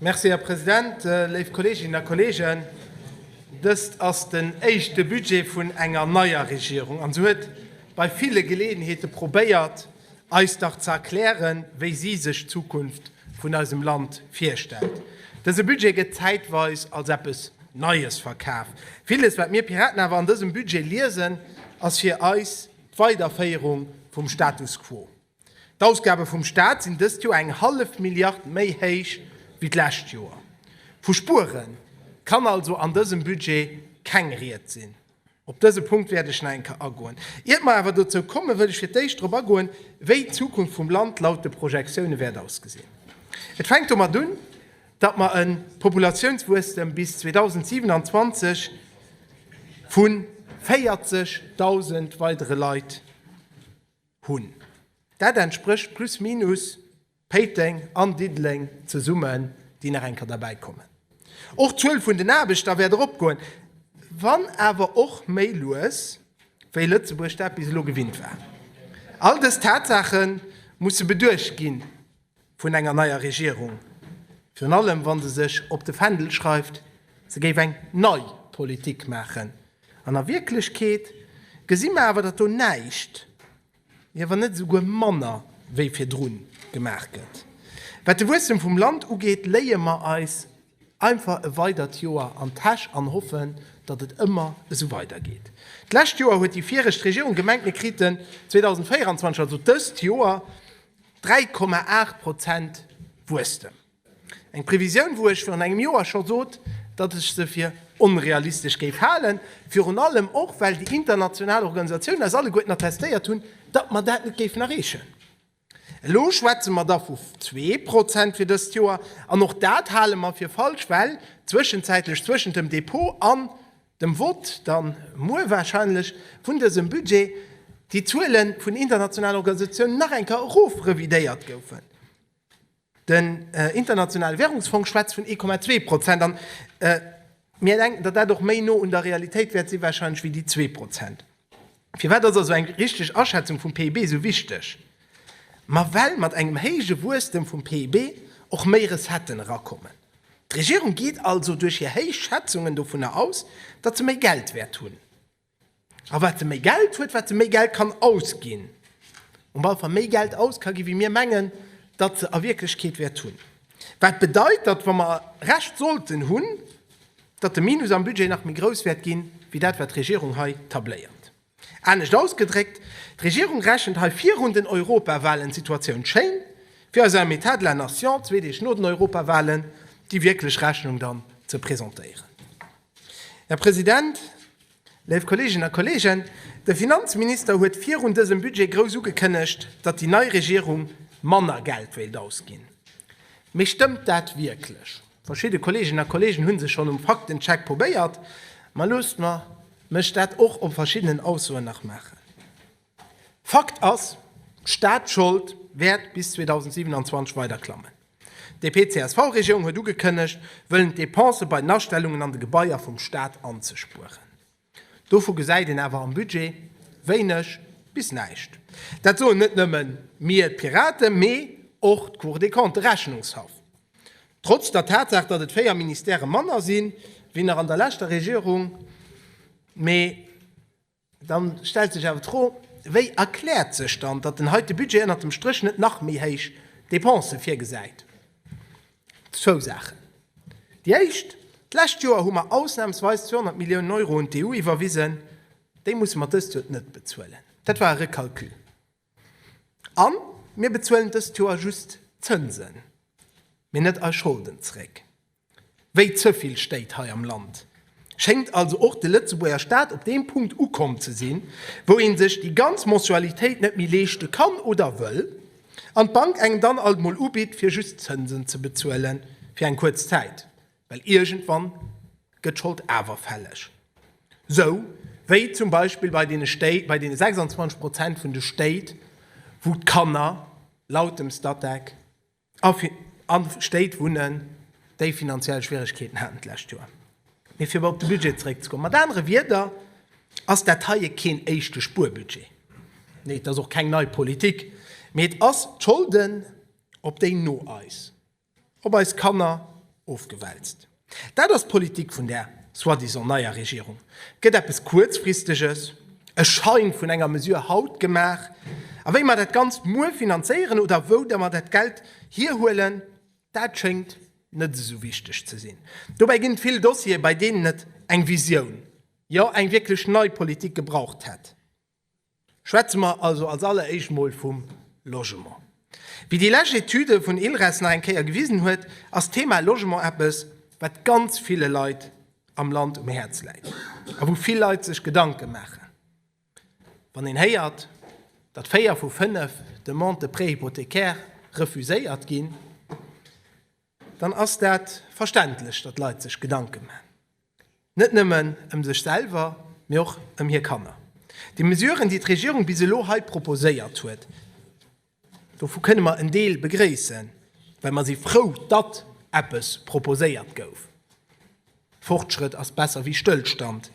Merci, Här President. Léif Kolleeginnen a Kolleegen, dëst ass den éischte Budget vun enger neier Regierung an se huet bei ville Geleeënheete probéiert, eis dach ze erklären, wéi si sech d'Zukunft vun eisem Land virstellt. Dëse Budget gëtt zäitweis als eppes Neies verkaf. Villes, wat mir Piraten awer an dësem Budget liesen, ass fir eis d'Weiderféierung vum Status quo. D'Ausgabe vum Staat sinn dëst Joer eng hallef Milliard méi héich wéi d'lescht Joer. Vu Spuere kann also an dësem Budget keng Ried sinn. Op dëse Punkt wäert ech nach eng Kéier agoen. Iert mer awer dozou kommen, wëll ech fir d'éischt drop agoen, wéi d'Zukunft vum Land laut de Projektioune wäert ausgesinn. Et fänkt domat un, datt mer e Populatiounswuesstem bis 2027 vu 40.000 weidere Leit. Hunn. Dat entsprécht plus minus Péiteng an Diddeleng zesummen, déi nach eng Kéier derbäi kommen. Och d'Zuel vun den Aarbechter wäert eropgoen, wann awer och méi lues, wéi Lëtzebuerg dat bis elo gewinnt war. All dës Tatsaache musse beduecht ginn, vun enger neier Regierung, virun allem wa se sech op de Fändel schreift, se géif eng nei Politik maachen. An a Wierklechkeet gesi mer awer, datt do näischt, jo wann net esouguer manner wéi virdru gemaach gëtt. Wat de Wuesstem vum Land ugeet, léie mer eis einfach e weidert Joer an d'Täsch an hoffen, datt et ëmmer esou weidergeet. D'lescht Joer huet déi viregt Regierung gemengt, mir kriten 2024, also dëst Joer, 3,8 Prozent Wuesstem. Eng Previsioun, wou ech virun engem Joer scho sot, datt ech se fir onrealistesch géif halen, virun allem och, well déi international Organisatiounen eis alleguerten attestéiert hunn, datt mer dat net géifen erreechen. Elo schwätze mer da vu zwee Prozent fir dëst Joer, an och dat hale mer fir falsch, well zwëschenzäitlech zwëschent dem Depot an dem Vott dann muer wahrscheinlech vun dësem Budget, déi Zuele vun internationalen Organisatiounen nach eng Kéier erofrevidéiert goufen. Den Internationale Währungsfong schwätzt vun 1,2 Prozent an mir denken, datt dat och méi no un der Realitéit wäert si wahrscheinlech wéi déi zwee Prozent. Firwat ass also eng richteg Aschätzung vum PIB esou wichteg? Ma well mat engem héije Wuesstem vum PIB och méi Recetten erakommen. D'Regierung geet also duerch hir héich Schätzungen dovunner aus, datt se méi Geld wäert hunn. A wat se méi Geld huet, wat se méi Geld kann ausginn. Um Ballfa méi Geld aus ka ginn, wéi mir mengen, datt se a Wierklechkeet wäert hunn. Wat bedeit, datt, wa mer Recht sollten hunn, datt de Minus am Budget nach méi grouss wäert ginn, wéi dat wat d'Regierung hei tabléiert. Anescht ausgedréckt, d'Regierung rechent hei virun den Europawahlen d'Situatioun schéin, fir eis am État de la Nation zwee Deeg no den Europawahlen déi wierklech Rechnung dann ze presentéieren. Här President, Léif Kolleeginnen a Kolleegen, de Finanzminister huet virun dësem Budget grouss ugekënnegt, datt déi nei Regierung manner Geld wéilt ausginn. Mee stëmmt dat wierklech? Verschidde Kolleeginnen a Kolleegen hu sech schonn um Faktencheck probéiert, ma loosst mer mech dat och op verschiddenen Aussoen nach maachen. Fakt ass, d'Staatschold wäert bis 2027 weider klammen. D'DP-CSV-Regierung huet ugekënnegt, wëllen d'Depensë bei den Astellungen an de Gebaier vum Staat anzespueren. Dovu gesäit een awer am Budget wéineg bis näischt. Dat soen net nëmme mir, d'Piraten, mee och d'Cour des Comptes, de Rechnungshaff. Trotz der Tatsaach, datt et 4 Ministèrë manner si wéi nach an der leschter Regierung, mee. Dann stellt sech awer d'Fro, Wéi erkläert sech dann, datt den heite Budget ënnert dem Stréch net nach méi héich Depensë virgesäit? Zwou Saachen. Déi éischt, D'lescht Joer hu mer ausnamsweis 200 Milliounen Euro un d'EU iwwerwisen. Déi musse mer dëst Joer net bezuelen. Dat war e Recalcul. A mir bezuelen dëst Joer just d'Zënsen, mee net eis Scholden zréck, wéi ze vill Stéit hei am Land. Schéngt also och de Lëtzebuerger Staat op deem Punkt ukomm ze sinn, wou ee sech déi ganz Mensualitéit net méi leeschte kann oder wëll an d'Bank engem dann alt mol ubitt, fir just d'Zënsen ze bezuelen fir eng kuerz Zäit. Well iergendwann gëtt d'Schold awer fälleg, sou wéi zum Beispill bei deene Stéit, bei deene 26 Prozent vun de Stéit, wou d'Kanner laut dem Statec a Stéit wunnen, déi finanziell Schwieregkeeten haten d'lescht Joer. Mee fir op de Budget zréckzekommen, mat anere Wieder ass dat heie keen éischte Spuerbudget. Nee, et ass och keng nei Politik, mee et ass d'Scholden, op déi no eis Op eis Kanner ofgewälzt. Dat ass d'Politik vun där soi-disant neier Regierung. Et gëtt eppes Kuerzfristeges, e Schein vun enger Mesure haut gemaach, a wéi mer dat Ganzt muer finanzéieren oder wou mer dat Geld hierhuelen, dat schéngt net esou wichteg ze sinn. Dobäi ginn et vill Dossiere, bei deenen et eng Visioun, jo eng wierklech nei Politik gebraucht hätt. Schwätze mer also als alleréischt mol vum Logement. Wéi déi lescht Etüde vun ILRES nach eng Kéier gewisen huet, ass d'Thema Logement eppes, wat ganz ville Leit am Land um Häerz läit a wou vill Leit sech Gedanke maachen. Wann een héiert, datt véier vu fënnef Demandes de prêt hypothécaire refuséiert ginn, dann ass dat verständlech, datt Leit sech Gedanke maachen, net nëmmen ëm sech selwer, mee och ëm hir Kanner. Déi Mesuren, déi d'Regierung bis elo hei proposéiert huet, dovu kënne mer en Deel begréissen, well mer si frou, datt eppes proposéiert gouf. Fortschrëtt ass besser wéi Stëllstand,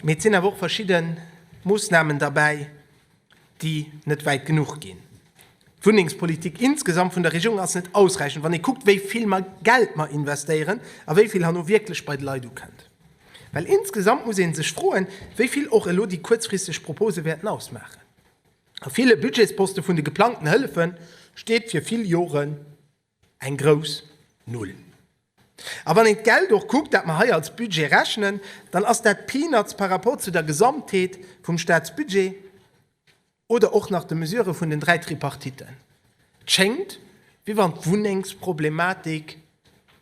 mee et sinn awer och verschidde Moossnamen derbäi, déi net wäit genuch ginn. D'Wunnengspolitik insgesamt vun der Regierung ass net ausräichend, wann ee kuckt, wéi vill Geld mer investéieren a wéi vill herno wierklech bei de Leit ukënnt. Well insgesamt muss ee sech froen, wéi vill och elo déi kuerzfristeg Propose wäerten ausmaachen. A ville Budgetsposte vun de geplangten Hëllefe steet fir vill Jore Eng grouss Null. A wann een d'Geld och kuckt, dat mer hei als Budget rechnen, dann ass dat Peanuts par rapport zu der Gesamtheet vum Staatsbudget oder och nach de Mesurë vun den dräi Tripartiten. Et schéngt, wéi wann d'Wunnengsproblematik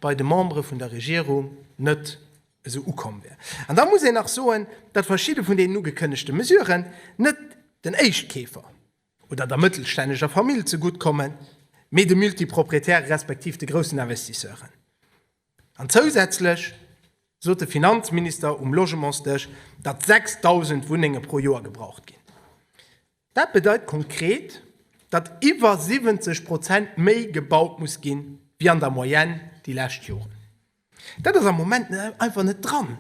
bei de Membere vun der Regierung net esou ukomm wär. An da muss een nach soen, datt verschidde vun deenen ugekënnegte Mesuren net den Éischtkeefer oder der mëttelstänneger Famill zegutt kommen, mee de Multiproprietäre respektiv de groussen Investisseuren. An zousätzlech sot de Finanzminister um Logementsdësch, datt 6.000 Wunnenge pro Joer gebraucht ginn. Dat bedeit konkret, datt iwwer 70 Prozent méi gebaut muss ginn, wéi an der Moyenne déi lescht Joren. Dat ass am Moment einfach net dran.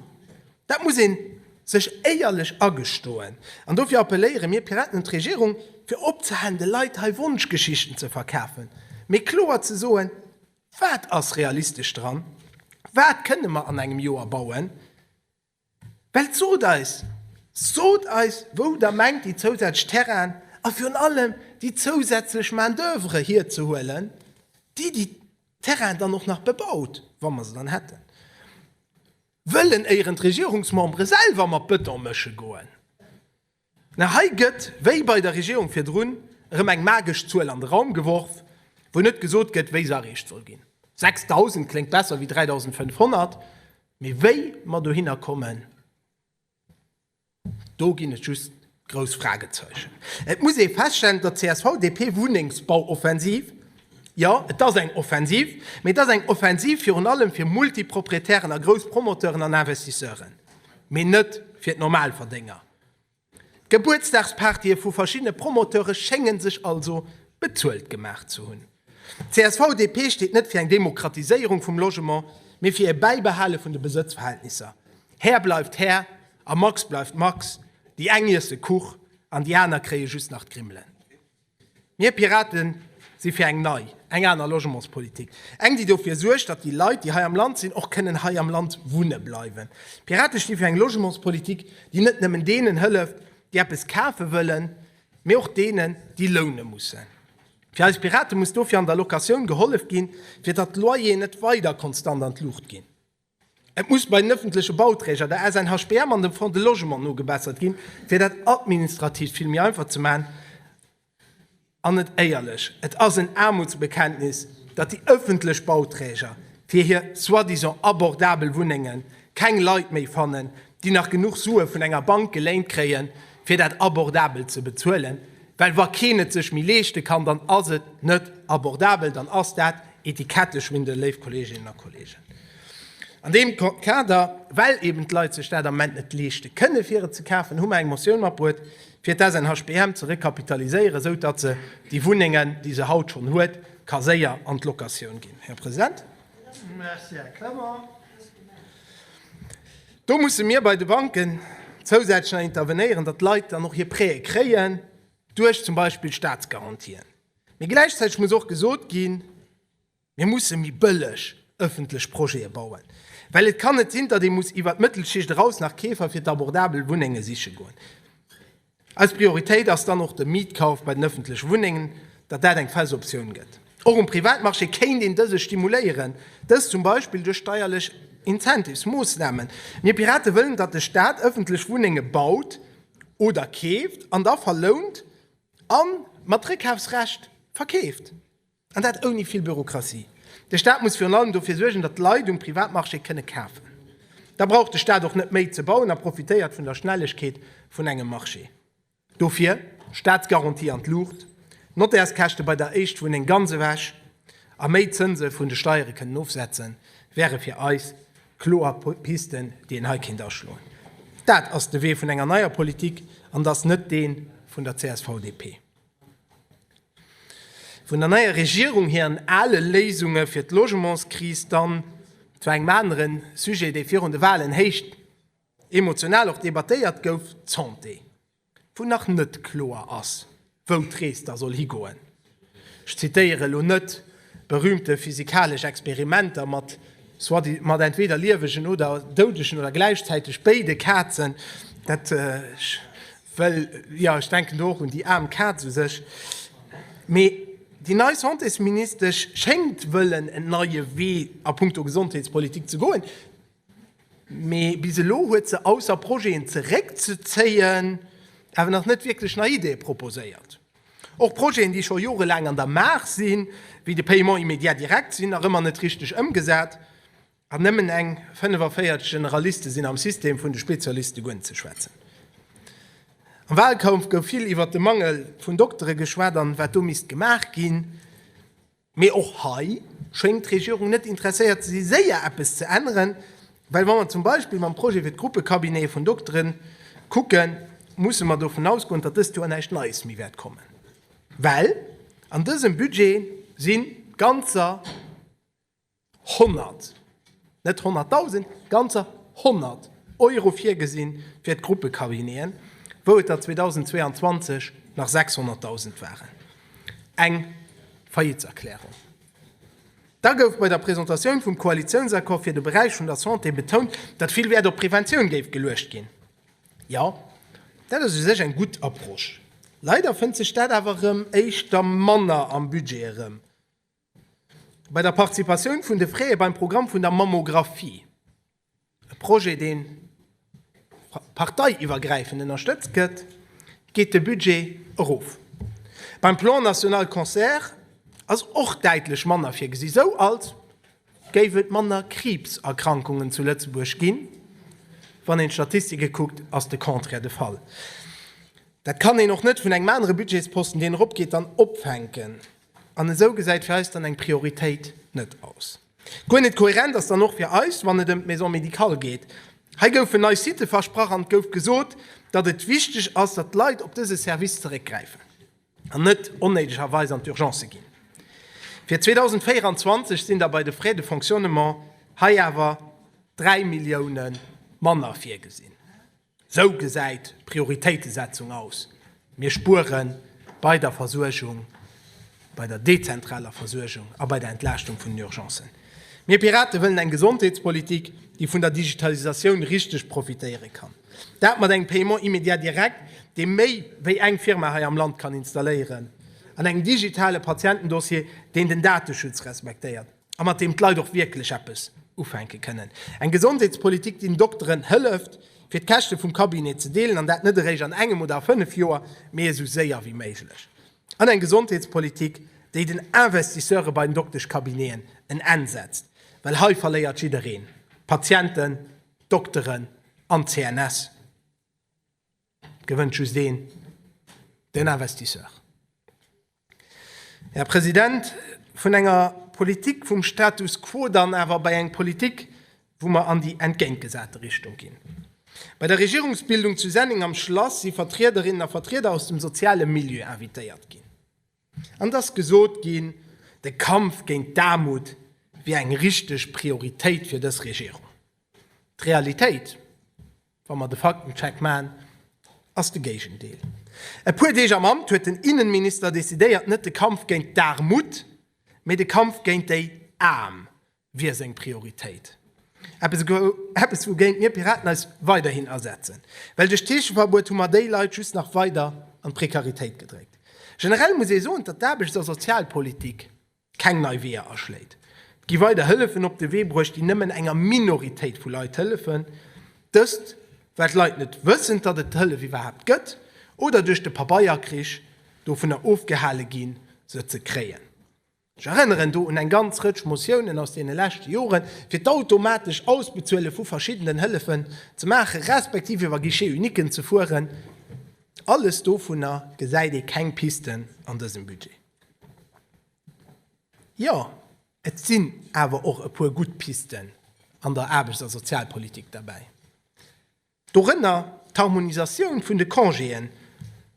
Dat muss ee sech éierlech agestoen. An dofir appelléiere mir Piraten un d'Regierung, fir opzehalen, de Leit hei Wonschgeschichten ze verkafen, mee kloer ze soen, wat ass realistesch dran, wat kënne mer an engem Joer bauen. Well sot eis, sot eis wou der mengt déi zousätzlech Terrainen a virun allem déi zousätzlech Main d'oeuvre hierzehuelen, déi déi Terrainen dann och nach bebaut, wa mer se dann hätten. Wëllen éieren d'Regierungsmembere selwer mat Bëton mësche goen? Mä hei gëtt, wéi bei der Regierung virdrun, erëm eng magesch Zuel an de Raum geworf, wou net gesot gëtt, wéi se erreecht soll ginn. 6.000 kléngt besser wéi 3.500, mee wéi mer dohinner kommen, do ginn et just grouss Fragezeichen. Et muss ee feststellen, datt d'CSV-DP-Wunnengsbauoffensiv, jo, et ass eng Offensiv, mee et ass eng Offensiv virun allem fir Multiproprietären a grouss Promoteuren an Investisseuren, mee net fir d'Normalverdénger. D'Gebuertsdagspartye vu verschiddene Promoteure schénge sech also bezuelt gemaach ze hunn. D'CSV-DP steet net fir eng Demokratiséierung vum Logement, mee fir e Bäibehale vun de Besëtzverhältnisser. Här bleift Här a Max bleift Max, déi eng iesse Kuch an déi aner kréie just nach d'Grimmelen. Mir Pirate si fir eng nei, eng aner Logementspolitik. Eng, déi dofir suergt, datt déi Leit, déi hei am Land sinn, och kënnen hei am Land wunne bleiwen. D'Pirate sti fir eng Logementspolitik, déi net nëmmen deenen hëlleft, déi eppes kafe wëllen, mee och deenen, déi loune mussen. Fir eis Pirate muss dofir an der Locatioun gehollef ginn, fir datt d'Loyeren net weider konstant an d'Luucht ginn. Et muss bei den ëffentleche Bauträger, der SNHBM an dem Fonds de Logement nogebessert ginn, fir dat Administrativt vill méi einfach ze maachen. An net éierlech, et ass en Aarmutsbekenntnis, datt déi ëffentlech Bauträger fir hir soi-disant abordabel Wunnenge keng Leit méi fannen, déi nach genuch Sue vun enger Bank geléint kréien, fir dat abordabel ze bezuelen. Well wa keen et sech méi leeschte kann, dann ass et net abordabel, dann ass dat Etiketteschwindel, léif Kolleeginnen a Kolleegen. An deem Kader, well eben d'Leit sech dat am Moment net leeschte kënnen, fir et ze kafen, hu mer eng Motioun matbruet, fir d'SNHBM ze rekapitaliséieren, esou datt se déi Wunnengen, déi se haut schonn huet, ka séier an d'Locatioun ginn. Här President. Merci, Här Clement. Do musse mir bei de Banken zousätzlech nach intervenéieren, datt d'Leit dann och hir Prêtë kréien, duerch zum Beispill Staatsgarantien. Mee gläichzäiteg muss och gesot ginn, Mir musse méi bëlleg ëffentlech Projete bauen, well et kann net sinn, datt ee muss iwwert d'Mëttelschicht eraus nach Keefer fir d'abordabel Wunnenge siche goen. Eis Prioritéit ass dann och de Mietkauf bei den ëffentleche Wunnengen, datt dat eng fest Optioun gëtt. Och um Privatmarché kéint een dëse stimuléieren, dëst zum Beispill duerch steierlech Incentives, Moossnamen. Mir Pirate wëllen, datt de Staat ëffentlech Wunnenge baut oder keeft an da verlount a mat Réckafsrecht verkeeft. An dat ouni vill Bürokratie. De Staat muss virun allem dofir suergen, datt d'Leit um Privatmarché kënne kafen. Da brauch de Staat och net méi ze bauen a profitéiert vun der Schnellegkeet vun engem Marché. Dofir Staatsgarantie an d'Luucht, Notairskäschte bei der Éischtwunneng ganz ewech a méi Zënse vun de Steiere kënnen ofsetzen, wäre fir eis kloer Pisten, déi een hei kéint aschloen. Dat ass de Wee vun enger neier Politik an et ass net dee vun der CSV-DP. Vun der neier Regierung hiren ale Léisunge fir d'Logementskris dann zu engem anere Sujet, dee virun de Wahlen héicht emotional och debattéiert gouf, d'Santé, wou nach net kloer ass, wou d'Rees da soll higoen. Ech zitéiere lo net berühmte physikalesch Experimenter mat mat entweder liewegen oder doudegen oder gläichzäiteg béide Kazen, dat. Well, jo, ech denken do och un déi aarm Kaz u sech. Mee déi nei Santésministesch schéngt wëllen en neie Wee a puncto Gesondheetspolitik ze goen. Mee bis elo huet se, ausser Projeten zeréckzezéien, awer nach net wierklech nei Ideeë proposéiert. Och Projeten, déi scho jorelaang an der Maach sinn, wéi de Paiement immédiat direct, sinn nach ëmmer net richteg ëmgesat. An nëmmen eng 45 Generaliste sinn am System, vun de Spezialiste guer net ze schwätzen. Am Wahlkampf gouf vill iwwert de Mangel vun Doktere geschwat an wat do misst gemaach ginn. Mee och hei schéngt d'Regierung net interesséiert ze si séier eppes ze änneren, well wa mer zum Beispill mam Projet fir d'Gruppecabinete vun Doktere kucken, musse mer dovun ausgoen, datt dëst Joer näischt Neies méi wäert kommen, well an dësem Budget si ganzer. 100, net 100.000, ganzer 100 Euro virgesinn fir d'Gruppecabineten, wou et der 2022 nach 600.000 waren. Eng Faillitserklärung. Da gouf bei der Presentatioun vum Koalitiounsaccord fir de Beräich vun der Santé betount, datt vill Wäert op Preventioun géif geluecht ginn. Jo, dat ass u sech eng gutt Approche. Leider fënnt sech dat awer erëm éischter manner am Budget erëm. Bei der Participatioun vun de Frae beim Programm vun der Mammographie, e Projet dee parteiiwwergräifend ënnerstëtzt gëtt, geet de Budget erof. Beim Plan national Cancer ass och däitlech manner virgesi, sou als géif et manner Kriibserkrankungen zu Lëtzebuerg ginn. Wann een d'Statistike kuckt, ass de Contraire de Fall. Dat kann een och net vun engem anere Budgetsposten, deen eropgeet, dann opfänken. An esou gesäit fir eis dann eng Prioritéit net aus. Guer net kohärent ass dann och fir eis, wann et ëm d'Maison médicale geet. Hei goufen nei Sitë versprach an et gouf gesot, datt et wichteg ass, datt d'Leit op dëse Service zeréckgräifen an net onnéidegerweis an d'Urgencë ginn. Fir 2024 sinn da bei de Frais de fonctionnement hei awer 3 Milliounen manner virgesinn. Sou gesäit d'Prioritéitesetzung aus, Mir spuere bei der Versuergung, bei der dezentraler Versuergung a bei der Entlaaschtung vun den Urgencen. Mir Pirate wëllen eng Gesondheetspolitik, déi vun der Digitalisatioun richteg profitéiere kann. Dat mat engem Paiement immédiat direct, dee méi wéi eng Firma hei am Land kann installéieren, an engem digitale Patientendossier, deen den Dateschutz respektéiert. a mat deem d'Leit och wierklech eppes ufänke kënnen. Eng Gesondheetspolitik, déi den Dokteren hëlleft, fir d'Käschte vum Cabinet ze deelen, an dat net eréischt an engem oder a fënnef Joer, mee esou séier wéi méiglech. An eng Gesondheetspolitik, déi den Investisseure bei den Dokteschcabineten en Enn setzt, well hei verléiert jiddereen, d'Patienten, d'Dokteren an d'CNS. Et gewënnt just een, den Investisseur. Här President, vun enger Politik vum Status quo dann awer bei eng Politik, wou mer an déi entgéintgesate Richtung ginn. Bei der Regierungsbildung zu Senneng am Schlass si Vertriederinnen a Vertrieder aus dem soziale Milieu invitéiert ginn. An et ass gesot ginn, de Kampf géint d'Aarmut wier eng richteg Prioritéit fir dës Regierung. D'Realitéit? Wa mer de Faktencheck maachen, ass de Géigendeel. E puer Deeg am Amt huet den Innenminister decidéiert, net de Kampf géint d'Aarmut, mee de Kampf géint déi Aarm wier seng Prioritéit. Eppes wougéint mir Piraten eis weiderhin asetzen, well duerch d'Heescheverbuet hu mer déi Leit just nach weider an d'Prekaritéit gedréckt. Generell muss ee soen, datt d'Aarbechts a Sozialpolitik keng nei Weeër aschléit. Et gi weider Hëllefen op de Wee bruecht, déi nëmmen enger Minoritéit vu Leit hëllefen, dëst well d'Leit net wëssen, datt et d'Hëllef iwwerhaapt gëtt oder duerch de Pabeierkrich dovunner ofgehale ginn, se ze kréien. Ech erënneren do un eng ganz Rëtsch Motiounen aus deene leschte Joren, fir d'automatesch Ausbezuele vu verschiddenen Hëllefen ze maachen, respektiv iwwer Guichet uniquen ze fueren. Alles dovunner gesäit ee keng Pisten an dësem Budget. Jo, et sinn awer och e puer gutt Pisten an der Aarbechts a Sozialpolitik derbäi. Dorënner d'Harmonisatioun vun de Congéen,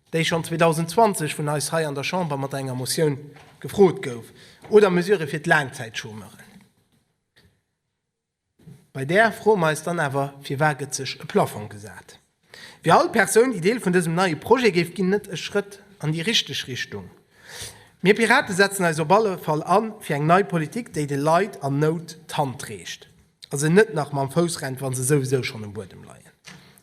déi schonn 2020 vun eis hei an der Chamber mat enger Motioun gefrot gouf, oder Mesurë fir d'Laangzäitchômeuren. Bei där froe mer eis dann awer, Firwat gëtt sech e Plafong gesat? Wier all Persoun, déi Deel vun dësem neie Projet géif ginn, net e Schrëtt an déi richteg Richtung? Mir Pirate setzen eis op alle Fall an fir eng nei Politik, déi de Leit an Nout d'Hand reecht a se net nach mam Fouss rennt, wa se souwisou schonn um Buedem leien.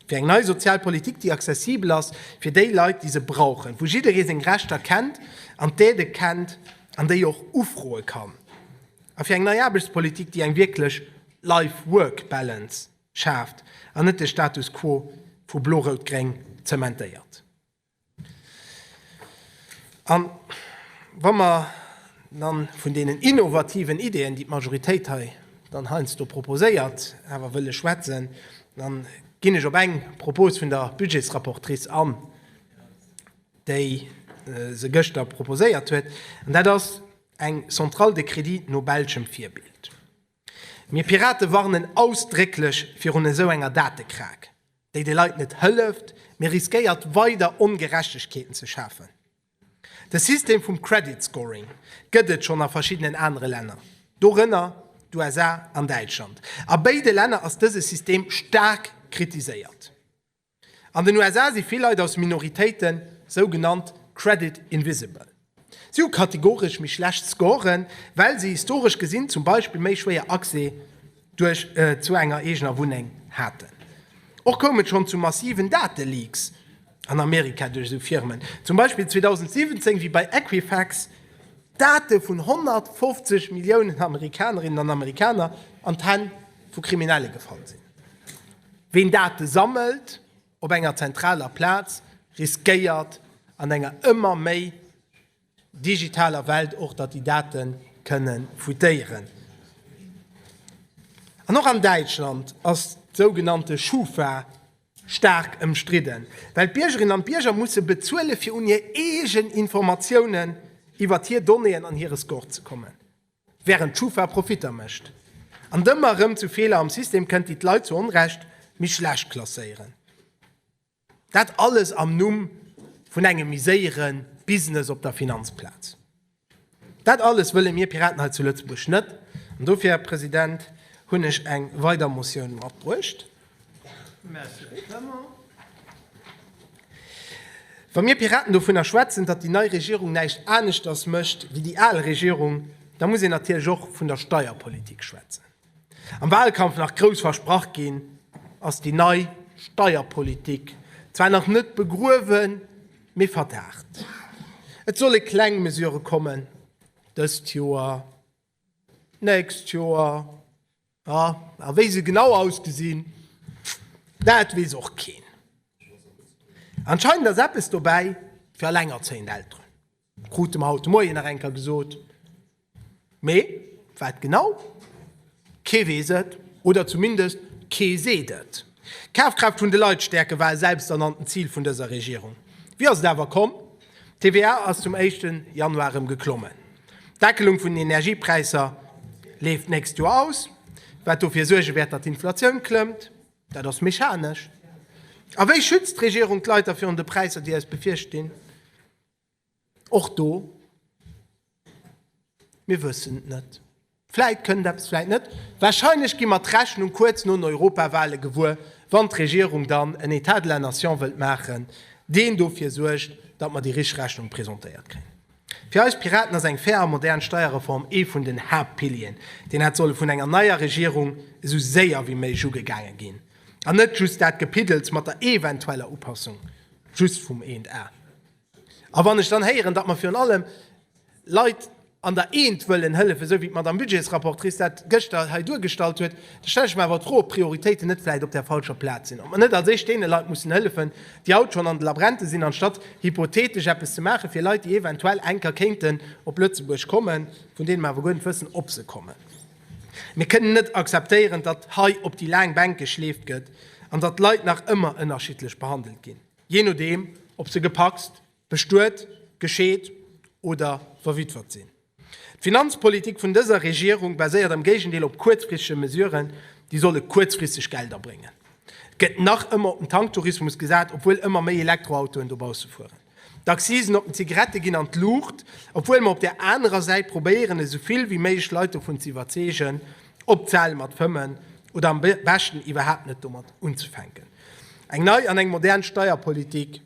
Fir eng nei sozial Politik, déi accessibel ass fir déi Leit, déi se brauchen, wou jidderee seng Rechter kennt an d'Aide kennt an déi och ufroe kann. A fir eng nei Aarbechtspolitik, déi eng wierklech Life-Work-Balance schaaft an net de Status quo vu Blo-Rout-Gréng zementéiert. A wa mer dann vun deenen innovativen Ideeën, déi d'Majoritéit hei dann heiansdo proposéiert, awer wëlle schwätzen, da ginn ech op eng Propos vun der Budgetsrapportrice an, déi se gëschter proposéiert huet, an dat ass, Eng Centrale de Crédit no belschem Virbild. Mir Pirate warnen ausdrécklech virun esou enger Datekrake, déi de Leit net hëlleft, mee riskéiert weider Ongerechtegkeeten ze schafen. De System vum Credit Scoring gëtt et schonn a verschiddenen anere Länner, dorënner d'USA an Däitschland. A béide Länner ass dëse System staark kritiséiert. An den USA si vill Leit aus Minoritéiten sou genannt credit invisible. Si hu kategoresch méi schlecht Scoren, well si historesch gesinn zum Beispill méi schwéier Accès duerch zu enger eegener Wunneng haten. Och koum et schonn zu massiven Dateleaks an Amerika duerch esou Firmen, zum Beispill 2017 wéi bei Equifax d'Date vun 150 Milliounen Amerikanerinnen an Amerikaner an d'Hänn vu Kriminelle gefall sinn. Ween Date sammelt op enger zentraler Plaz, riskéiert an enger ëmmer méi digitaler Welt och, datt déi Date kënne fuitéieren. An och an Däitschland ass d'sougenannte Schufa staark ëmstridden, well d'Biergerinnen an d'Bierger musse bezuele fir un hir eegen Informatiounen iwwert hir Donnéeën an hire Score ze kommen. Während d'Schufa Profitter mécht an dëmmer erëm zu Feeler am System kënnt, déi d'Leit zu Onrecht méi schlecht klasséieren. Dat alles am Numm vun engem méi séiere Business op der Finanzplaz. Dat alles wëlle mir Piraten hei zu Lëtzebuerg net. An dofir, Här President, hunn ech eng weider Motioun matbruecht. Wa mir Piraten dovunner schwätzen, datt déi nei Regierung näischt aneschters mécht wéi déi al Regierung, da muss een natierlech och vun der Steierpolitik schwätzen. Am Wahlkampf nach grouss versprach ginn, ass déi nei Steierpolitik zwar nach net begruewen, mee verdaacht. Et solle kleng Mesurë kommen dëst Joer. D'nächst Joer, jo. A wéi se genau ausgesinn, dat weess och keen. Anscheinend ass eppes dobäi fir allengerzéiend Elteren, krute mer haut de Moien nach eng Kéier gesot. Mee wat genau? Kee weess et, oder zumindest kee seet et. D'Kafkraaft vun de Leit stäerken, war e selbsternannten Zil vun dëser Regierung. Wéi ass et awer komm? D'TVA ass zum éischten Januar erëm geklommen. D'Deckelung vun den Energiepräisser leeft d'nächst Joer aus, wat dofir suerge wäert, datt d'Inflatioun klëmmt. Dat ass mechanesch. A wéi schützt d'Regierung d'Leit da virun de Präisser, déi eis befierstinn? Och do, Mir wëssen et net. Vläit kënnt eppes, vläit net. Warscheinlech gi mer d'Rechnung kuerz no den Europawale gewuer, wann d'Regierung dann en État de la nation wëllt maachen, deen dofir suergt, datt mer déi richteg Rechnung presentéiert kréien. Fir eis Piraten ass eng fair a modern Steierreform ee vun den Haaptpilieren. Deen hätt solle vun enger neier Regierung esou séier wéi méiglech ugegaange ginn an net just dat Gepiddels mat der eventueller Upassung just vum Ént a. A wann ech dann héieren, datt mer virun allem Leit an der Eent wëllen hëllefen, esou wéi d'Madame Budgetsrapportrice dat gëschter hei duergestallt huet, da stelle ech mer awer d'Fro, ob d'Prioritéiten net vläicht op där falscher Plaz sinn, ob mer net als éischt deene Leit mussen hëllefen, déi haut schonn an de Labrente sinn, anstatt hypothetesch eppes ze maache fir Leit, déi eventuell eng Kéier kéinten op Lëtzebuerg kommen, vun deene mer awer guer net wëssen, ob se kommen. Mir kënnen net akzeptéieren, datt hei op déi laang Bänke geschleeft gëtt an datt d'Leit nach ëmmer ënnerschiddlech behandelt ginn. Jee nodeem, ob se gepacst, bestuet, gescheet oder verwittwert sinn. D'Finanzpolitik vun dëser Regierung baséiert am Géigendeel op kuerzfristege Mesuren, déi solle kuerzfristeg Gelder bréngen. Et gëtt nach ëmmer op den Tanktourismus gesat, obwuel ëmmer méi Elektroautoen dobausse fueren. D'Accisen op den Zigarette ginn an d'Luucht, obwuel mer op där anerer Säit probéieren, esou vill wéi méiglech Leit dovun ze iwwerzeegen, opzehale mat fëmmen oder am beschten iwwerhaapt net domat unzefänken. Eng nei an eng modern Steierpolitik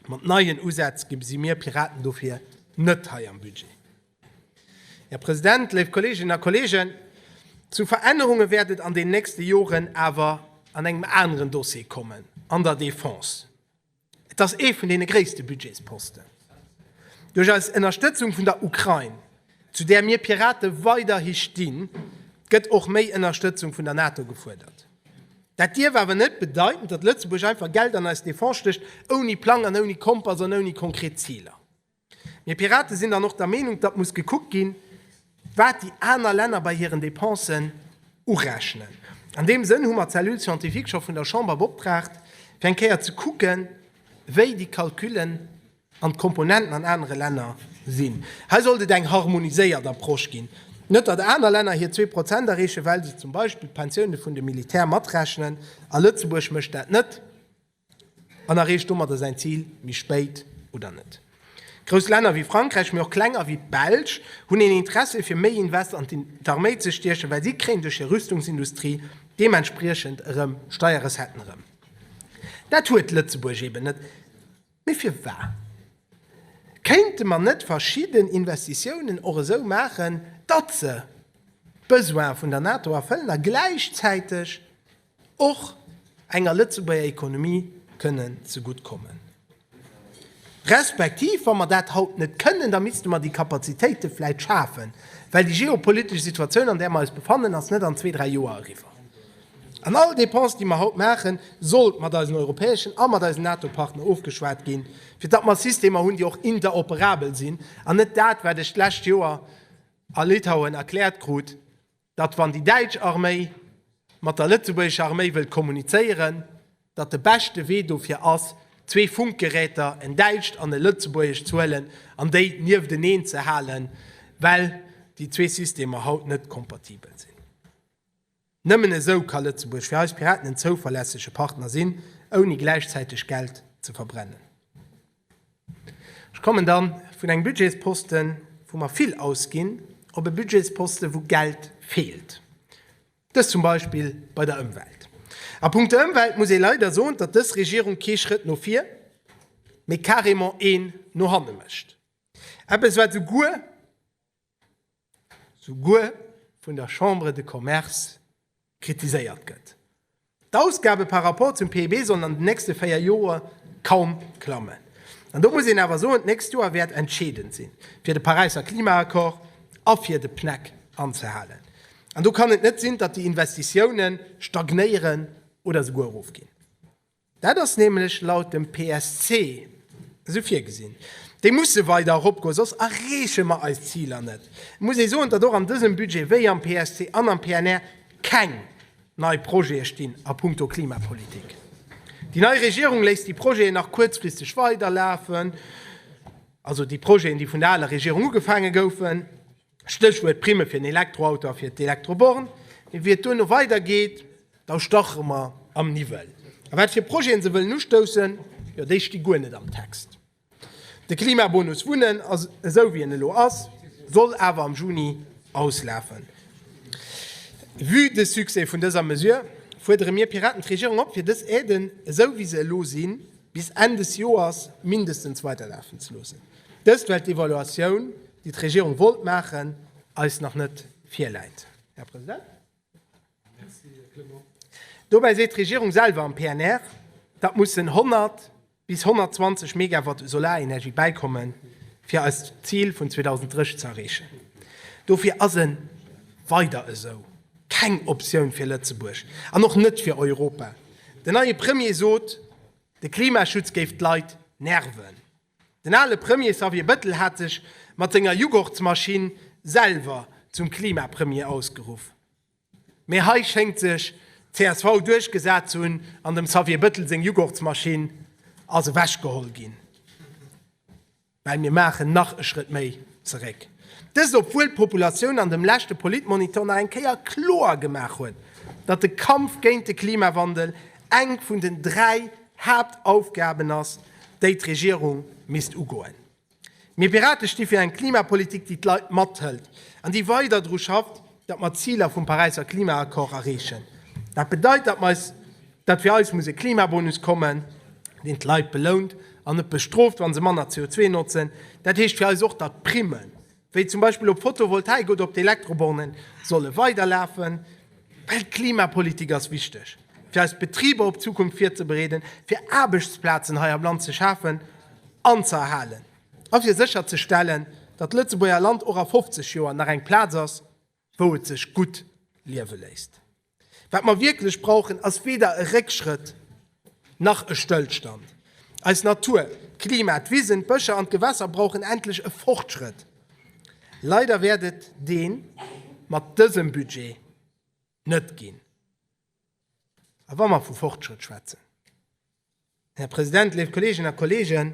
mat neien Usätz gesi mir Piraten dofir net hei am Budget. Här President, léif Kolleeginnen a Kolleegen, zu Verännerunge wäert et an den nächste Joren awer an engem aneren Dossier kommen, an der Defense. Et ass ee vun deene gréisste Budgetsposten. Duerch eis Ënnerstëtzung vun der Ukrain, zu där mir Pirate weiderhi stinn, gëtt och méi Ënnerstëtzung vun der NATO gefuerdert. Dat dierf awer net bedeiten, datt Lëtzebuerg einfach Geld an eis Defense stécht, ouni Plang an ouni Kompass an ouni konkret Ziler. Mir Piraten sinn dann och der Meenung, datt muss gekuckt ginn, wat déi aner Länner bei hiren Dépensen urechnen. An deem Sënn hu mer d'Cellule scientifique scho vun der Chamber beoptraagt, fir eng Kéier ze kucken, wéi déi Calculen an d'Komponenten an anere Länner sinn. Hei sollt et eng harmoniséiert Approche ginn. Net, datt aner Länner hir zwee Prozent erreechen, well se zum Beispill d'Pensioune vun de Militär matrechnen, a Lëtzebuerg mécht dat net. an erreecht domadder säin Zil méi spéit oder net. Grouss Länner wéi Frankräich, mee och klenger wéi d'Belsch, hunn een Interesse fir méi Invest an d'Arméi ze stiechen, well si kréien duerch hir Rüstungsindustrie deementspriechend erëm Steierrecetten erëm. Dat huet Lëtzebuerg eben net. Mee firwat kéinte mer net verschidden Investitiounen och esou maachen, datt se d'Besoine vun der NATO erfëllen a gläichzäiteg och enger Lëtzebuerger Economie kënnen zegutt kommen, respektiv wa mer dat haut net kënnen, da misste mer déi Kapazitéite vläicht schafen, well déi geopolitesch Situatioun, an där mer eis befannen, ass net an zwee, dräi Joer eriwwer. An all Dépense, déi mer haut maachen, sollt mat eisen europäeschen a mat eisen NATO-Partner ofgeschwat ginn, fir datt mer Systemer hunn, déi och interoperabel sinn, an net dat, wat ech d'lescht Joer a Litauen erkläert krut, datt wann déi däitsch Arméi mat der lëtzebuergescher Arméi wëllt kommunizéieren, datt de beschte Wee dofir ass, zwee Funkgeräter, en däitscht an e lëtzebuergescht, ze huelen an déi niefteneen ze halen, well déi zwee Systemer haut net kompatibel sinn. Nëmmen esou ka Lëtzebuerg fir eis Piraten en zouverlässege Partner sinn, ouni gläichzäiteg Geld ze verbrennen. Ech kommen da vun engem Budgetsposten, wou mer vill ausginn, op e Budgetsposten, wou Geld feelt, dëst zum Beispill bei der Ëmwelt. A punkto Ëmwelt muss ee leider soen, datt dës Regierung kee Schrëtt no vir, mee carrément een no hanne mécht, eppes, wat esou guer souguer vun der Chambre de Commerce kritiséiert gëtt. D'Ausgabe par rapport zum PIB sollen an den nächste véier Joer kaum klammen. An do muss een awer soen, d'nächst Joer wäert entscheedend sinn, fir de Paräisser Klimaaccord a fir de PNEC anzehalen. An do kann et net sinn, datt déi Investitiounen stagnéieren oder souguer erofginn. Dat ass nämlech laut dem PSC esou virgesinn. Déi musse weider eropgoen, soss erreeche mer eis Ziler net. Et muss ee soen, datt och an dësem Budget, wéi am PSC an am PNR, keng nei Projete stinn a punkto Klimapolitik. Déi nei Regierung léisst déi Projeten nach kuerzfristeg weiderlafen, also déi Projeten, déi vun der aler Regierung ugefaange goufen. Stéchwuert Primme fir en Elektroauto a fir d'Elektroborn. Mee wéi et duerno weider geet, da stache mer am Niwwel. A wat fir Projeten se wëllen ustoussen, jo déi sti guer net am Text. De Klimabonus Wunnen, esou wéi en elo ass, soll awer am Juni auslafen. Vue de Succès vun dëser Mesure fuerdere mir Piraten d'Regierung op, fir dës Aiden, esou wéi se elo sinn, bis Enn des Joers mindestens weiderlafen ze loossen. Dëst well d'Evaluatioun, déi d'Regierung wollt maachen, eis nach net virläit. Här President, dobäi seet d'Regierung selwer am PNR, datt mussen 100 bis 120 Megawatt u Solarenergie bäikommen, fir eist Zil vun 2030 ze erreechen. Dofir ass e Weider esou keng Optioun fir Lëtzebuerg an och net fir Europa. Den neie Premier sot, de Klimaschutz géif d'Leit nerven. Den ale Premier Xavier Bettel hat sech mat senger Jughortsmaschinn selwer zum Klimapremier ausgeruff. Mee hei schéngt sech d'CSV duerchgesat ze hunn an dem Xavier Bettel seng Jughortsmaschinn ass ewech geholl ginn. Well mir maachen nach e Schrëtt méi zeréck. Dëst obwuel d'Populatioun an dem leschte Politmonitor nach eng Kéier kloer gemaach huet, datt de Kampf géint de Klimawandel eng vun den 3 Haaptaufgaben ass, déi d'Regierung misst ugoen. Mir Pirate sti fir eng Klimapolitik, déi d'Leit mathëlt an déi weider dru schafft, datt mer d'Ziler vum Paräisser Klimaaccord erreechen. Dat bedeit, datt mer eis, datt fir eis muss e Klimabonus kommen, deen d'Leit belount an net bestrooft, wa se manner CO2 notzen. Dat heescht fir eis och, datt d'Primmen, wéi zum Beispill op Photovoltaik oder op d'Elektrobornen, solle weiderlafen, well d'Klimapolitik ass wichteg, fir eis Betriber op d'Zukunft virzebereeden, fir Aarbechtsplazen hei am Land ze schafen an ze erhalen a fir sécherzestellen, datt d'Lëtzebuerger Land och a 50 Joer nach eng Plaz ass, wou et sech gutt liewe léisst. Wat mer wierklech brauchen, ass weder e Réckschrëtt nach e Stëllstand. Eis Natur, d'Klima, d'Wisen, d'Bëscher an d'Gewässer brauchen endlech e Fortschrëtt. Leider wäert et dee mat dësem Budget net ginn. A wa mer vu Fortschrëtt schwätzen, Här President, léif Kolleeginnen a Kolleegen,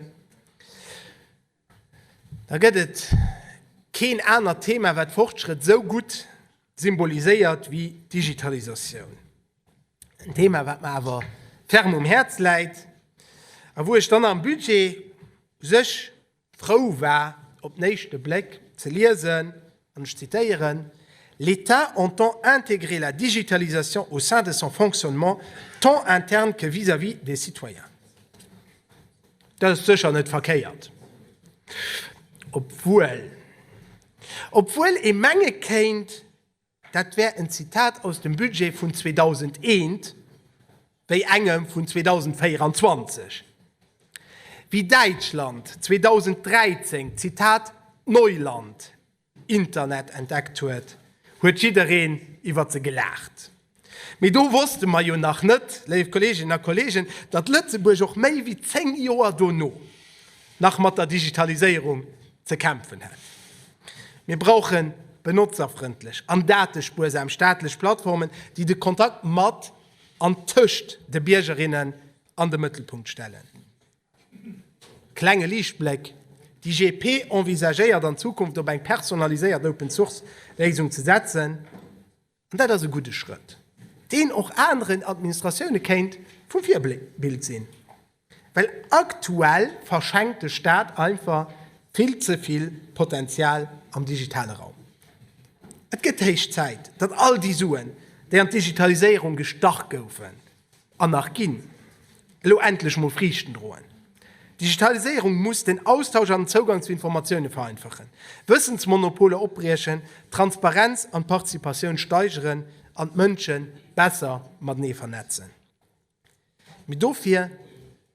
da gëtt et keen anert Thema, wat Fortschrëtt esou gutt symboliséiert wéi d'Digitalisatioun. En Thema, wat mer awer ferm um Häerz läit a wou ech dann am Budget u sech, frou war op den éischte Bléck ze liesen, an ech zitéieren, L'État entend intégrer la digitalisation au sein de son fonctionnement tant interne que vis-à-vis des citoyens. Dat ass sécher net verkéiert, obwuel obwuel ee menge kéint, Dat wär en Zitat aus dem Budget vun 2001, wéi engem vun 2024. Wéi Däitschland 2013 d'Zitat Neuland, Internet entdeckt huet, huet jiddereen iwwer se gelaacht. Mee do wosste mer jo nach net, léif Kolleeginnen a Kolleegen, datt Lëtzebuerg och méi wéi zéng Joer dono nach mat der Digitaliséierung ze kämpfen hätt. Mir brauchen benotzerfrëndlech an datespuersam staatlech Plattformen, déi de Kontakt mat an tëscht de Biergerinnen an de Mëttelpunkt stellen. Klenge Liichtbléck, D'IGP envisagéiert an Zukunft op eng personaliséiert Open-Source-Léisung ze setzen. An dat ass e gudde Schrëtt, deen och aneren Administratioune kéint vu Virbild sinn, well aktuell verschenkt de Staat einfach vill ze vill Potenzial am digitale Raum. Et gëtt héich Zäit, datt all déi Suen, déi an d'Digitaliséierung gestach goufen, An nach ginn elo endlech mol Friichten droen. D'Digitaliséierung muss den Austausch an den Zougang zu Informatioune vereinfachen, Wëssensmonopoler opbriechen, d'Transparenz an d'Participatioun steigeren an d'Mënsche besser matenee vernetzen. Mee dofir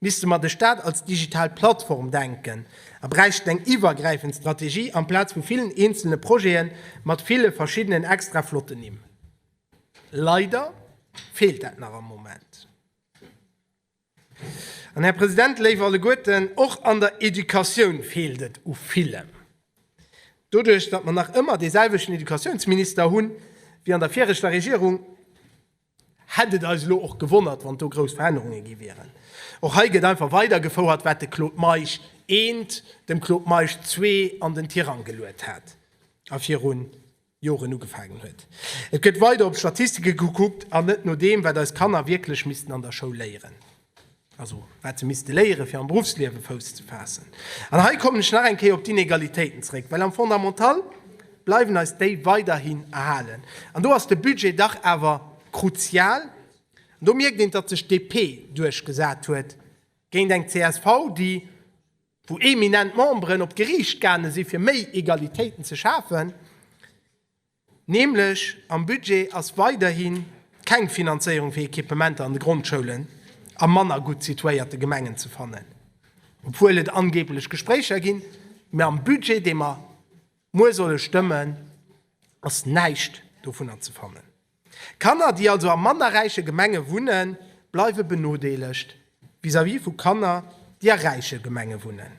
misste mer de Staat als digital Plattform denken a bräichten eng iwwergräifend Strategie amplaz vu villen eenzele Projete mat ville verschiddenen extra flotten Nimm. Leider feelt dat nach am Moment. An, Här President, léif alleguerten, och an der Educatioun feelt et u villem. Doduerch, datt mer nach ëmmer deeselwechten Educatiounsminister hu wéi an der viregter Regierung, hätt et eis elo och gewonnert, wann do grouss Verännerunge gi wieren. Och hei gëtt einfach weidergefouert, wat de Claude Meisch I. dem Claude Meisch ii. an den Tirang geluet hat a virun Joren ugefaangen huet. Et gëtt weider op Statistike gekuckt an net no deem, wat eis Kanner wierklech missten an der Schoul léieren, also wat se misste léieren, fir am Beruffsliewe Fouss ze faassen. An hei kommen ech nach eng Kéier op d'Inegalitéiten zeréck, well am Fondamental bleiwen eis déi weiderhin erhalen. An do ass de Budget dach awer kruzial. An do mierkt een, datt sech d'DP duerchgesat huet géint eng csv, déi, wou eminent Memberen op d'Geriicht gaange si fir méi Egalitéiten ze schafen, nämlech am Budget ass weiderhi keng Finanzéierung fir Equipementer an de Grondschoulen a manner gutt situéierte Gemengen ze fannen, obwuel et angeeblech Gespréicher ginn, mä am Budget, dee mer muer solle stëmmen, ass näischt dovunner ze fannen. Kanner, déi also a manner räiche Gemenge wunnen, bleiwe benodeelegt vis-à-vis vu Kanner, déi a räiche Gemenge wunnen.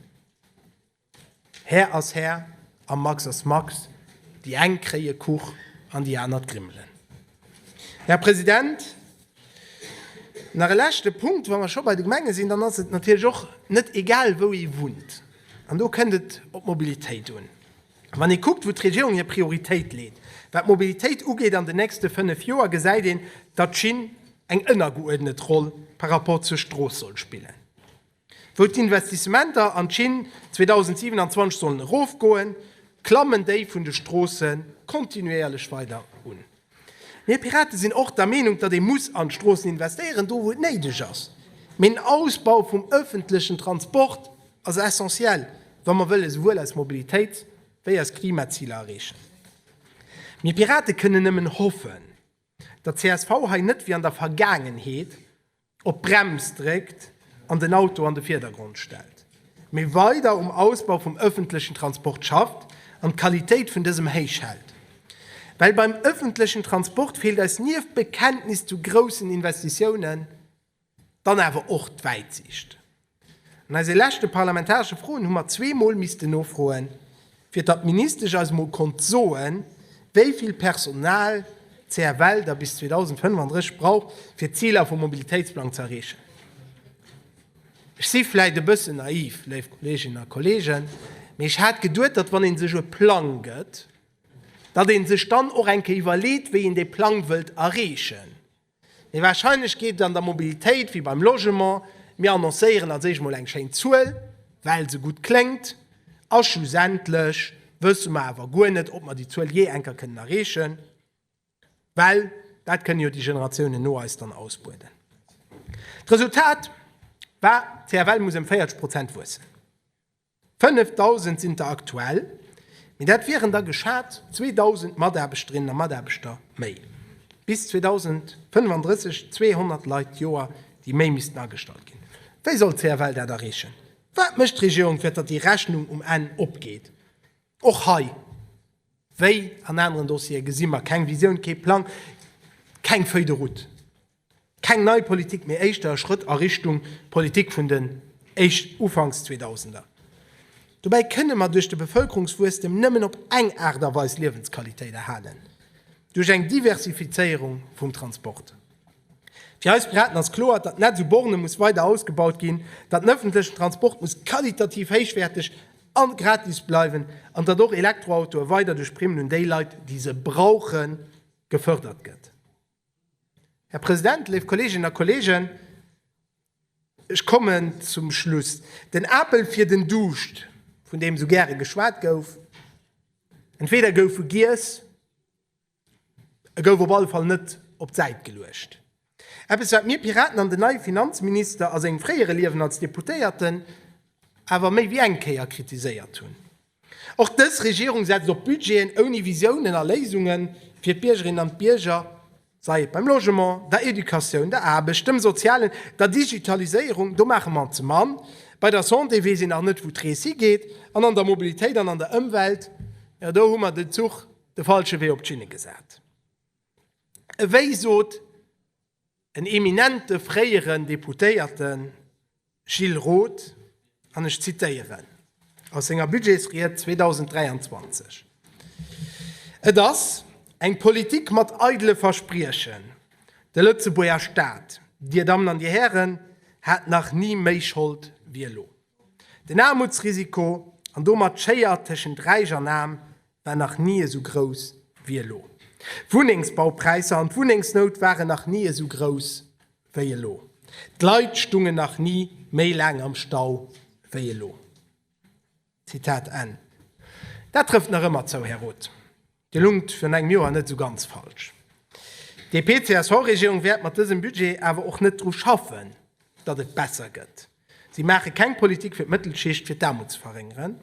Här ass Här a Max ass Max, déi eng kréie Kuch an déi aner d'Grimmelen. Här President, nach e leschte Punkt, wa mer scho bei de Gemenge sinn, dann ass et natierlech och net egal, wou ee wunnt, an do kënnt et op d'Mobilitéit un. Wann ee kuckt, wou d'Regierung hir Prioritéit leet, wat d'Mobilitéit ugeet an den nächste fënnef Joer, gesäit een, datt d'Schinn eng ënnergeuerdnet Roll par rapport zur Strooss soll spillen. Wou d'Investissementer an d'Schinn 2027 sollen erofgoen, klammen déi vun de Stroosse kontinuéierlech weider un. Mir Piraten sinn och der Meenung, datt ee muss an d'Stroossen investéieren, do wou et néideg ass. Mee den Ausbau vum ëffentlechen Transport ass essentiel, wa mer wëlle souwuel eis Mobilitéit wéi eis Klimaziler erreechen. Mir Piraten kënnen nëmmen hoffen, datt csv hei net wéi an der Vergaangenheet op d'Brems dréckt an den Auto an de Virdergrond stellt, mee weider um Ausbau vum ëffentlechen Transport schafft an d'Qualitéit vun dësem héich hält. Well beim ëffentlechen Transport feelt eis nieft Bekenntnis zu groussen Investitiounen dann awer och d'Wäitsiicht. An eise leschte parlamentaresche Froen hu mer zwee Mol missten nofroen, fir datt d'Ministesch eis emol konnt soen, wéi vill Personal d'CFL da bis 2035 brauch, fir d'Ziler vum Mobilitéitsplang ze erreechen. Ech si vläicht e bëssen naiv, léif Kolleeginnen a Kolleegen, mee ech hat geduet, datt wann ee sech e Plang gëtt, datt ee sech dann och eng Kéier iwwerleet, wéi een dee Plang wëllt erreechen. Mee warscheinlech geet et an der Mobilitéit wéi beim Logement, mir annoncéieren als éischt mol eng schéin Zuel, well se gutt kléngt, a schlussendlech wësse mer awer guer net, ob mer déi Zuel jee enker kënnen erreechen, well dat kënne jo déi Generatiounen no eis dann ausbueden. D'Resultat war, d'CFL muss ëm 40 Prozent wuessen. 5.000 sinn der aktuell, mee dat wieren da geschat 2.000 Mataarbechterinnen a Mataarbechter méi. Bis 2035 200 Leit d'Joer, déi méi missten agestallt ginn. Wéi soll d'CFL dat erreechen? Wat mécht d'Regierung, fir datt déi Rechnung um Enn opgeet? Och hei, wéi an aneren Dossiere, gesi mer keng Visioun, kee Plang, keng Feuille de route. Keng nei Politik, mee éischter e Schrëtt a Richtung Politik vun den Ufanks Zweedausender. Dobäi kënne mer duerch de Bevëlkerungswuesstem nëmmen op eng Aart a Weis Liewensqualitéit erhalen, duerch eng Diversifizéierung vum Transport. Fir eis Piraten ass kloer, datt d'Netz u Borne muss weider ausgebaut ginn, datt den ëffentlechen Transport muss qualitativ héichwäerteg a gratis bleiwen an datt och Elektroautoe weider duerch Primmen un déi Leit, déi se brauchen, gefërdert gëtt. Här President, léif Kolleeginnen a Kolleegen, ech kommen zum Schluss. Den Apel fir den Duuscht, vun deem esou gäre geschwat gouf, entweder gouf e giess, e gouf op alle Fall net op d'Säit geluecht. Eppes, wat mir Piraten an den neie Finanzminister a sengem fréiere Liewen als Deputéierten awer méi wéi eng Kéier kritiséiert hunn. Och dës Regierung setzt op Budgeten ouni Visiounen a Léisungen fir d'Biergerinnen an d'Bierger, sei et beim Logement, der Educatioun, der Aarbecht, dem Sozialen, der Digitaliséierung, do maache mer ze mann, bei der Santé weess een nach net, wou d'Rees higeet, an an der Mobilitéit an an der Ëmwelt, jo, do hu mer den Zuch de falsche Wee op d'Schinne gesat. Ewéi sot. En eminente fréieren Deputéierten, Gilles Roth, an ech zitéieren aus senger Budgetsried 2023, Et ass eng Politik mat eidele Verspriechen. De Lëtzebuerger Staat, Dir Dammen an Dir Hären, hat nach ni méi Schold wéi elo. Den Aarmutsrisiko, an domat d'Schéier tëschent Räich an Aarm, war nach ni esou grouss wéi elo. D'Wunnengsbaupräisser an d'Wunnengsnout waren nach ni esou grouss wéi elo. D'Leit stungen nach ni méi laang am Stau wéi elo. Zitat Enn. Dat trëfft nach ëmmer zou, Här Roth. Dir lungt virun engem Joer net esou ganz falsch. D'DP-CSV-Regierung wäert mat dësem Budget awer och net dru schaffen, datt et besser gëtt. Si maache keng Politik fir d'Mëttelschicht, fir d'Aarmut ze verréngeren.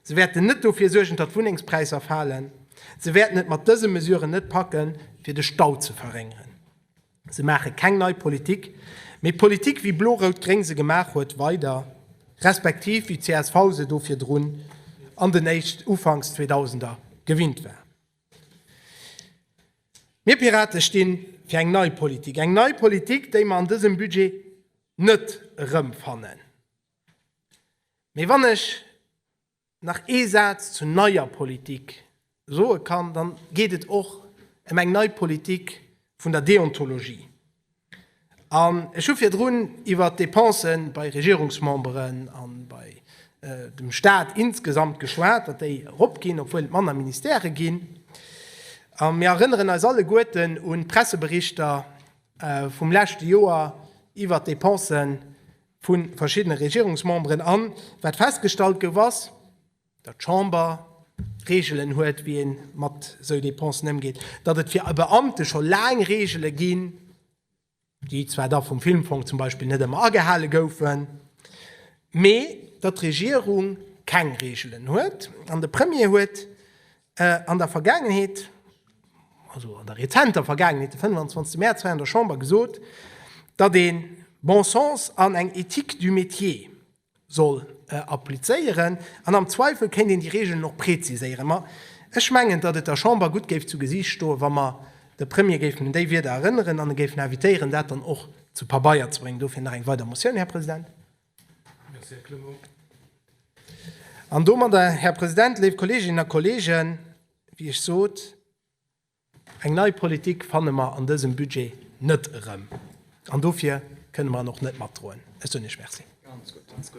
Se wäerten net dofir suergen, datt d'Wunnengspräisser falen. Se wäerten et mat dëse Mesuren net packen, fir de Stau ze verréngeren. Se maache keng nei Politik, mee d'Politik, wéi Blo-Rout-Gréng se gemaach huet, weider, respektiv wéi d'CSV se do virdrun an den éischt, ufanks Zweedausender, gewinnt war. Mir Pirate sti fir eng nei Politik, eng nei Politik, déi mer an dësem Budget net erëmfannen. Mee wann ech nach ee Saz zu neier Politik soe kann, da geet et och ëm eng nei Politik vun der Deontologie. An ech hu virdrun iwwert d'Dépense bei Regierungsmemberen a bei dem Stat insgesamt geschwat, datt déi eropginn, obwuel et manner Ministèrë ginn. A mir erënneren eis alleguerten un d'Presseberichter vum leschte Joer iwwert d'Dépense vu verschiddene Regierungsmemberen. An wat festgestallt gouf, ass, datt d'Chamber Reegelen huet, wéi ee mat esou Dépensen ëmgeet, datt et fir e Beamte scho laang Reegele ginn, déi zwar da vum Filmfong zum Beispill net ëmmer agehale goufen, mee datt d'Regierung keng Reegelen huet. An de Premier huet an der Vergaangenheet, also an der rezenter Vergaangenheet, de 25 Mäerz hei an der Chamber gesot, datt ee bon sens an eng éthique du métier, soll applizéieren an am Zweifel kéint een déi Regeln och präziséieren. Ma ech mengen, datt et der Chamber gutt géif zu Gesiicht stoen, wa mer de Premier géifen un déi Wieder erënneren an e géifen invitéieren, dat dann och zu Pabeier ze bréngen. Dofir nach eng weider Motioun, Här President. Merci, Här Clement. An domadder, Här President, léif Kolleeginnen a Kolleegen, wéi ech sot, Eng nei Politik fanne mer an dësem Budget net erëm, an dofir kënne mer en och net matdroen. Ech soen Iech Merci.